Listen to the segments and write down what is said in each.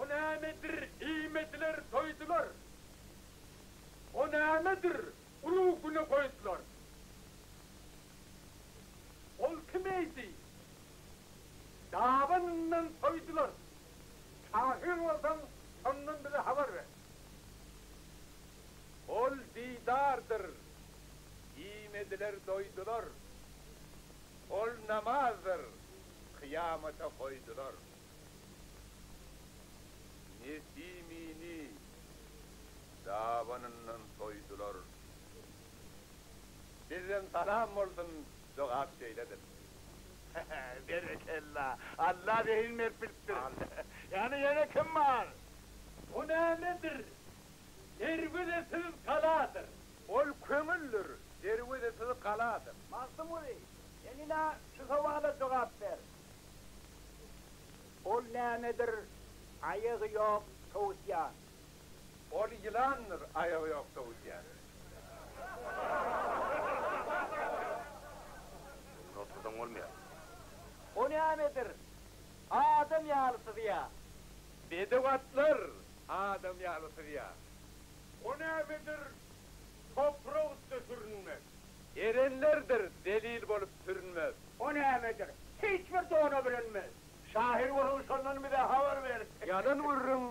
O nämedir iýmediler, doýdular. O nämedir uly güne goýdular. Ol kim eýdi? Dabanyndan soýdular. Şahyr bolsaň, şondan bize habar ber. Ol didardyr. Iýmediler, doýdular. Ol namazdyr. Kyýamata goýdular. Nesimini dabanyndan soýdular. Sizden salam bolsun jogap şeýledir. Berekella! Alla zehin berip bilipdir. Ýagny ýene kim bar? Bu nämedir? Derwezesiz galadyr. Ol köňüldir. Derwezesiz galadyr. Magtymguly, sen ine şu sowala jogap ber. Ol nämedir aýagy ýok towusýan. Ol ýylandyr aýagy ýok towusýan. Ony otludan bolmaýar. O nämedir adam ýaly syzýar. Bedew atlar adam ýaly syzýar. O nämedir toprak üste sürünmek. Erenlerdir zelil bolup sürünmez. O nämedir, hiç bir dona bürünmez. Şahyr boluň şondan bize habar ber. Ýalan gürrüň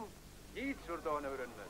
hiç bir dona bürünmez.